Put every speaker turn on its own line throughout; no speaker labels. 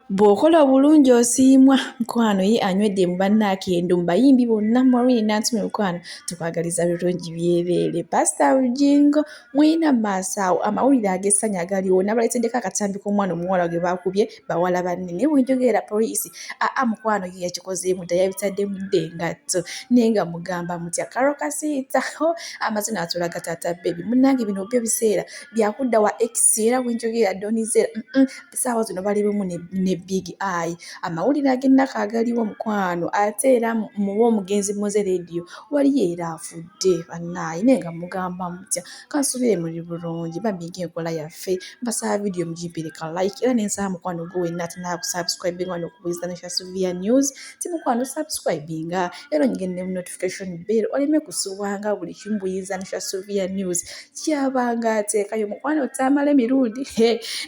Bw'okola obulungi osiimwa mukwano ye anywedde mu banne akendo mu bayimbi bonna Maureen Nantume mukwano tukwagaliza birungi byereere Paasita Bugingo mulina mu maaso awo amawulire ag'essanyu agaliwo nabaleeteddeko akatambi k'omwana omuwala gwe baakubye bawala banne naye bwe njogera era poliisi aa mukwano ye yakikozeemu dda yabitaddemu dda engatto naye nga mugamba mutya Carol Kasiita hoo amaze n'atulaga taata bbebi munnange bino byo biseera bya kudda wa ekisi era bwe njogera Don Zella mm essaawa zino bali bumu ne big eye amawulire ag'ennaku agaliwo mukwano ate era muwa omugenzi muze leediyo waliyo era afudde bannaaye naye nga mugamba mutya kansubire muli bulungi bamiga enkola yaffe mbasaba vidiyo mugimpereka like era nensaba mukwano gwe wenna atinaba kusubscribing wano okubuliza ne shasuvia news ti mukwano subscribinga era onyige ne notification bell oleme kusubwanga buli kimu buyinza ne shasuvia news kyabanga ateekayo mukwano otaamala emirundi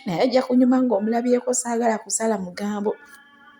naye ajja kunyuma ng'omulabyeko saagala kusala mugambo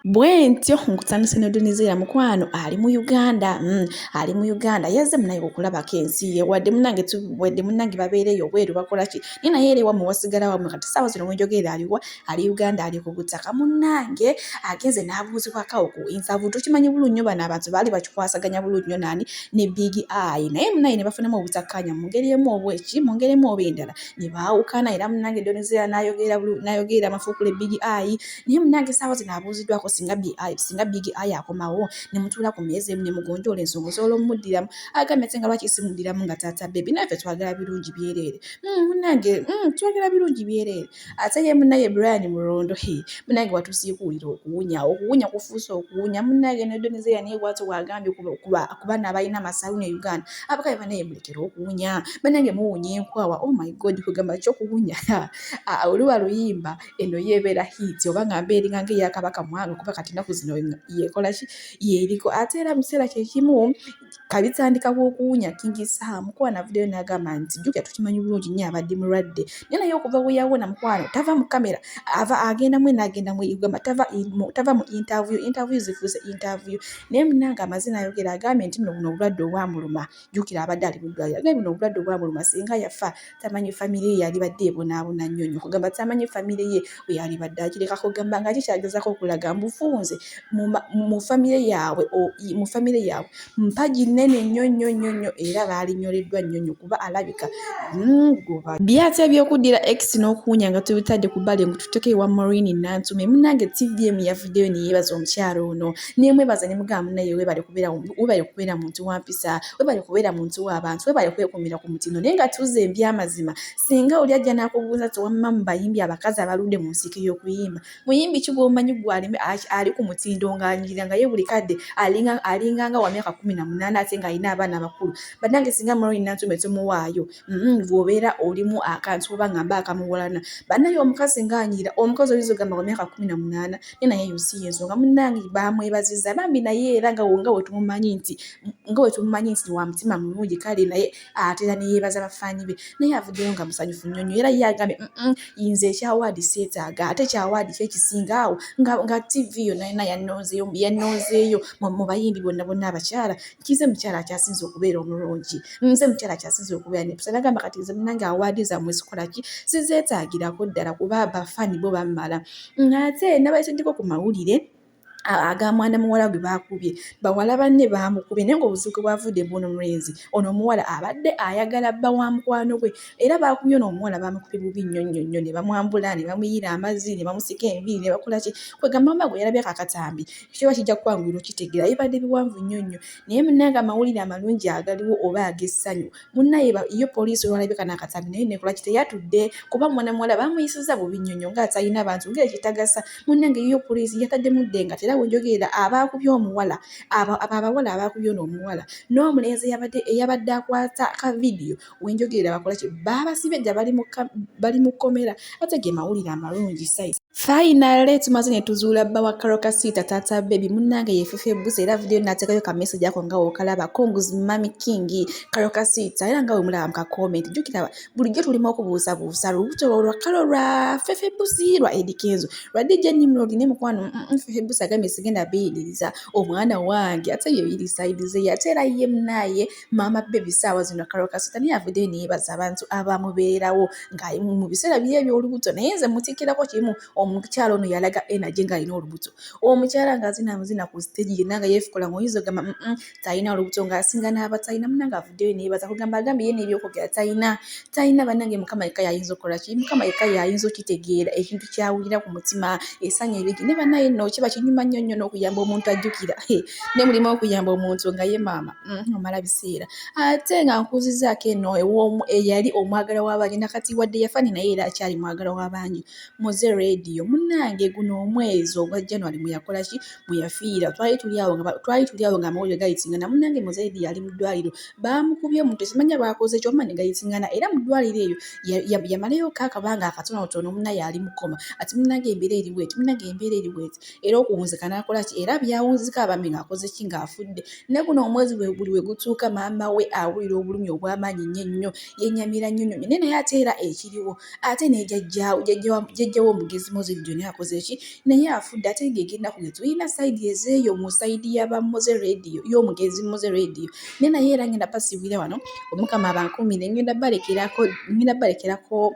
bwentyo nkutanise nodunizeera mukwano ali mu uganda mm, ali mu uganda yaze munaye okulabako ensi ye wadde munange tuwedde munange babeereyo obweru bakolaki naye naye era ewamu wasigala wamwe kati saawa zino wenjogeera aliwa ali uganda ali ku butaka munnange agenze n'abuuzibwako awo ku insavu tukimanyi bulungi nyo bano abantu baali bakikwasaganya bulungi nyo naani ne big eye naye munaye ne bafunamu obutakkaanya mu ngeri emu oba eki mu ngeri emu oba endala ne baawukana era munnange donizera n'ayogerera amafuukule big eye naye munnange saawa zino abuuziddwako singa big eye singa big eye akomawo ne mutuula ku meeza emu ne mugonjoola ensonga osobola omumuddiramu agambye ate nga lwaki simuddiramu nga taata bebi naye ffe twagala birungi byereere hmm, munnange hmm, twagala birungi byereere ate ye munaye Brian Mulondo he munange watusiye kuwulira okuwunya okuwunya kufuuse okuwunya munange ne Donizera naye bwati wagambye kubana abalina amasaluuni e Uganda abakabe banaye mulekere okuwunya banange muwunya enkwawa oh my god kugamba ki okuwunya oluba luyimba eno yebeera hiiti oba nga mba eringa nga eyakabaka mwanga kuba kati enaku zino yekolaki yeriko ate era mu kiseera kyekimu kabitandika bwokuwunya kingi saha mukuwa navudeyo nagamba nti jukya tukimanyi bulungi nyo abadde mulwadde naye naye okuva weyawona mukwano tava mu kamera ava agenda mwena agenda mweyugamba tava tava mu interview interview zifuuse interview naye munanga amazina ayogera agambye nti nno buno obulwadde obwamuluma jukira abadde ali mudwaliro agambye buno obulwadde obwamuluma singa yafa tamanyi famire ye yalibadde ebonaabona nnyo nyo kugamba tamanyi famire ye weyalibadde akireka kugamba nga kikyagezako okulaga mbufunze mu famire yaabwe mu famire yaabwe mpagi nnene nnyo nnyo nnyo nnyo era baalinyoleddwa nnyo nnyo kuba alabika hmm, byati ebyokuddira ex n'okuwunya nga tubitadde ku bbali ngu tuteke ewa morini nantume munange tvm yavuddeyo neyeebaza omukyalo ono nemwebaza ne mugamba munaye webale kubeera muntu wampisa webale kubeera muntu w'abantu webale kwekumira ku mutindo naye nga tuuza ebyamazima singa oli ajja n'akubuuza ti wamma mu bayimbi abakazi abaludde mu nsiike y'okuyimba muyimbi ki gw'omanyi gwalime ali ku mutindo ng'anyirira nga ye buli kadde alinganga wa myaka kumi na munaana ate ng'alina abaana abakulu bannange singa muloni nantume tumuwaayo Mm, bwobeera olimu akantu oba nga mba akamuwalana banaye omukazi ngaanyiira omukazi oyinza ogamba nga myaka kumi na munaana naye naye yosi yensonga munange bamwebaziza bambi naye era nga nga wetumumanyi nti nga wetumumanyi nti wa mutima mulungi kale naye atera neyeebaza bafaanyi be naye avuddeyo nga musanyufu nnyo nnyo era ye agambye yinza ekyawaadi seetaaga ate ekyawaadi kyo ekisinga awo nga tv yonna yonna yannonzeeyo mu bayimbi bonna bonna abakyala kize mukyala akyasinze okubeera omulungi nze mukyala akyasinze okubeera nepusa nagamba kati nze munange awaadi zamwe zikola ki sizeetagirako ddala kuba bafaani bo bammala ng'ate nabaisajjako ku mawulire aga mwana muwala gwe baakubye bawala banne baamukubye naye ngaobuzibu bwavudde bwono mulenzi ono omuwala abadde ayagala bba wa mukwano gwe era baakubye ono omuwala baamukubye bubi nnyo nnyo nnyo ne bamwambula ne bamuyiira amazzi ne bamusika enviiri ne bakola ki kwegamba mama gwe yalabye kakatambi kiba kijja kukwanguyira okitegeera bibadde biwanvu nnyo nnyo naye munnange amawulire amalungi agaliwo oba ag'essanyu munnaye yo poliisi olwalabika n'akatambi naye nekola ki teyatudde kuba mwana muwala baamuyisiza bubi nnyo nnyo ng'atalina bantu ng'ekitagasa munnange yo poliisi yataddemu dde nga tera wenjogerera abaakubye omuwala abo abawala abaakubye ono omuwala n'omulenzi eyabadde akwata ka vidiyo wenjogerera bakola ki baabasibye dda bali mu kkomera ate ge mawulire amalungi size finally tumaze ne tuzuula bba wa karokasiita taata bebi munnange yefufa ebusa era vidiyo nateekayo ka message ako nga wokalaba congs mami king karokasiita era nga wemulaba mu kakomenti jjukira bulijjo tulimu okubuusabuusa lubuto lwa kalo lwa fefe busi lwa edikenzo lwa dj nimrod ne mukwano mm, mm, fefe busi agambye sigenda biyiririza omwana wange ate yeyirisayidize yate era ye munaye maama bbebi ssaawa zino kalo kasita naye avuddeyo neyebaza abantu abamubeerawo nga mu biseera bye ebyolubuto naye nze mutikkirako kimu omukyala ono yalaga energy nga alina olubuto omukyala nga azina muzina ku stage yenna nga yeefukola nga oyinza ogamba talina olubuto ng'asinga n'abatalina muna nga avuddeyo neyebaza kugamba agambye ye n'ebyokwogera talina talina bannange mukama yekka yayinza okukola ki mukama yekka yayinza okitegeera ekintu kyawulira ku mutima esanya ebigi ne bannaye nno kiba kinyuma nnyo nnyo n'okuyamba omuntu ajjukira ne mulimu okuyamba omuntu nga ye maama Mm-hmm. omala biseera ate nga nkuzizaako eno ewoomu eyali omwagala w'abangi nakati wadde yafani naye era akyali mwagala w'abangi muze rediyo munnange guno omwezi ogwa january mweyakola ki mweyafiira twali tuli awo twali tuli awo ngaamawulire gayitingana munnange muze rediyo ali mu ddwaliro baamukubye omuntu simanya baakoze kyoma ne gayitingana era mu ddwaliro eyo yamalayo ka akabanga akatonotono munnaye ali mukoma ati munnange embeera eriweeti munnange embeera eriweeti era okuwunzika n'akola ki era byawunzika abambi ng'akoze ki ng'afudde ne guno omwezi bwe buli we gutuuka maama we awulira obulumi obw'amaanyi nnyo ennyo yennyamira nnyo nnyo naye naye ate era ekiriwo ate ne jajjaawo jajjawo omugezi moze vidiyo naye akoze ki naye afudde ate ng'egenda kugeza tulina sayidi ezeeyo mu sayidi y'aba moze rediyo y'omugezi moze rediyo ne naye era ngenda basiibira wano omukama abankuumire ngenda balekerako ngenda balekerako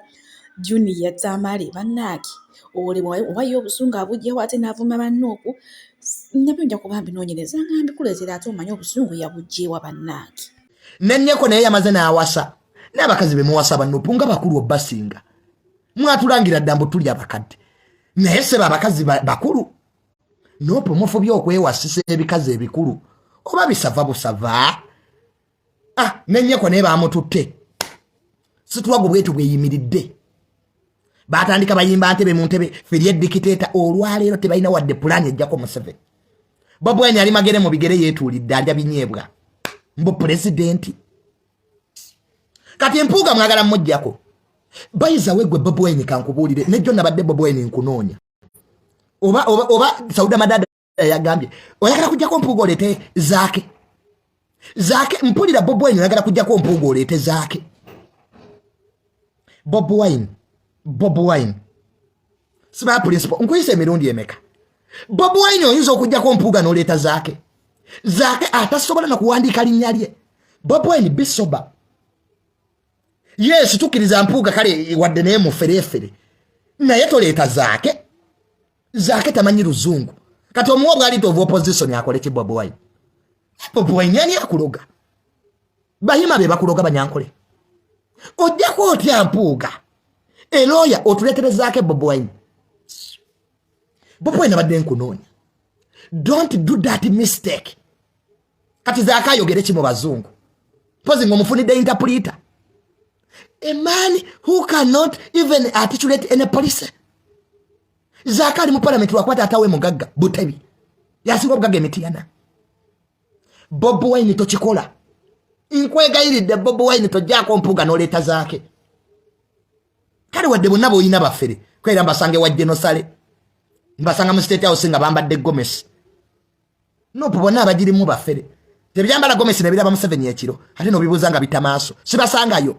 junior tamale banange olebwa oba ye obusungu abujjawo ate n'avuma banne okwo nabyo nja kuba mbinoonyereza nga mbikuleetera ate omanye obusungu yabujjeewa banange nenyeko naye
yamaze n'awasa n'abakazi be muwasa banupu nga bakulu obasinga mwatulangira dda mbu tuli abakadde naye seba abakazi bakulu nopu mufubye okwewasisa ebikazi ebikulu oba bisava busava ah nenyeko naye bamututte situwago bwetu bweyimiridde batandika bayimba ntebe mu ntebe feri edikiteeta olwaleero tebalina wadde pulaani ejjako museveni bobwenya ali magere mu bigere yeetuulidde alya binyeebwa mbu pulezidenti kati mpuuga mwagala mujjako bayiza wegwe bobweny kankubuulire nejjo nabadde bobweny nkunoonya oba oba oba sauda madada eyagambye oyagala kujjako mpuuga oleete zaake zaake mpulira bob wine oyagala kujjako mpuuga oleete zaake bob wine bob wine sibaa principal nkuyisa emirundi emeka bob wine oyinza okujjako mpuuga noleeta zaake zaake atasobola nakuwandiika linnya lye bob wine bisoba yesu tukkiriza mpuuga kale wadde naye muferefere naye toleeta zaake zake tamanyi luzungu kati omuwa obwalita ova opposition akole ki bobi wine bobi wine ani akuloga bahima be bakuloga banyankole ojjako otya mpuuga elooya otuleterezaako bobi wine bobi wine abadde nkunoonya don't do that mistake kati zaka ayogere ki mu bazungu pozi nga omufunidde interpreter a man who cannot even articulate any policy zaka ali mu palamenti lwakuba taata we mugagga butebi yasinga obugagga emitiyana bob wine tokikola nkwegayiridde bob wine tojjaako mpuga noleeta zaake kale wadde bonna boolina bafere kwera mbasange wa genosale mbasanga mu state house nga bambadde gomesi nupu bonna abagirimu bafere tebyambala gomesi nebiraba museveni ekiro ate nobibuuza nga bita maaso sibasangayo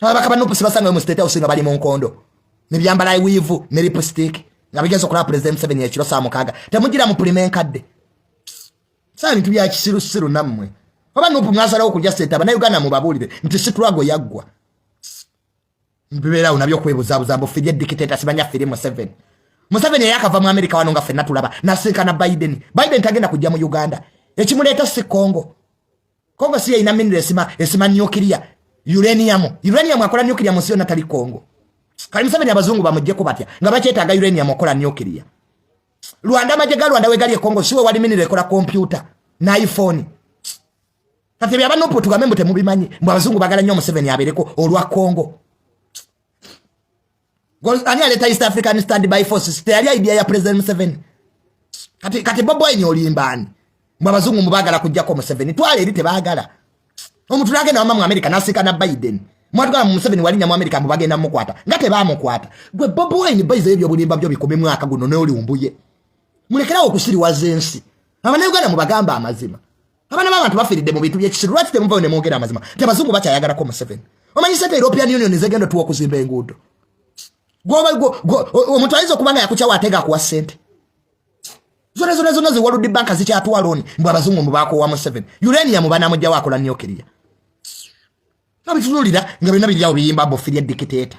ababaka ba nupu sibasangayo mu state house nga bali mu nkondo nebyambala wiivu ne lipstick nga bigenza okulaba pulezidenti museveni ekiro saa mukaaga temugira mu pulima enkadde saa bintu bya kisirusiru nammwe oba nupu mwasalawo okujja sente abanauganda mubabuulire nti situlago yaggwa mbibeerawo nabyo okwebuzabuza mbu firi edikiteta simanya firi museveni museveni eyakava mu amerika wano nga fenna tulaba nasinkana biden biden tagenda kujja mu uganda ekimuleeta si congo congo si yeyina miniro esima esima nukiria uranium uranium akola nukiria munsi yonna tali congo kali museveni abazungu bamujjeko batya nga bakyetaaga uranium okola nukiria lwanda amagye ga lwanda wegali ekongo siwe wali miniro ekola kompyuta naiphone kati ebyo abanupu tugambe mbu temubimanyi mbu abazungu bagala nnyo museveni abeereko olwa congo ani aleeta east african stand by forces teyali idea ya president museveni kati, kati boboini olimbaani mbu abazungu mubagala kujjako museveni twala eri tebagala omuntu nagenda wamamu amerika nasiika na biden mwatugala mu museveni walinnya mu amerika mbu bagenda mukwata nga tebamukwata gwe boboini baiza ebyobulimba byo bikumi mwaka guno noliumbuye mulekerawo okusiriwaza ensi abanauganda mubagamba amazima abana babantu bafiridde mu bintu byekisiru lwaki temuvayo nemwogera amazima nti abazungu bakyayagalako museveni omanyi sente european union zegenda otuwa okuzimba enguudo omuntu ayinza okuba nga yakukyawo atega akuwa sente zona zona zona ziwaludi banka zikyatwala oni mbu abazungu mubakowa museveni uranium banamugjawo akola nyokiria abitunulira nga byonna biryawo biyimba bofiria dikiteta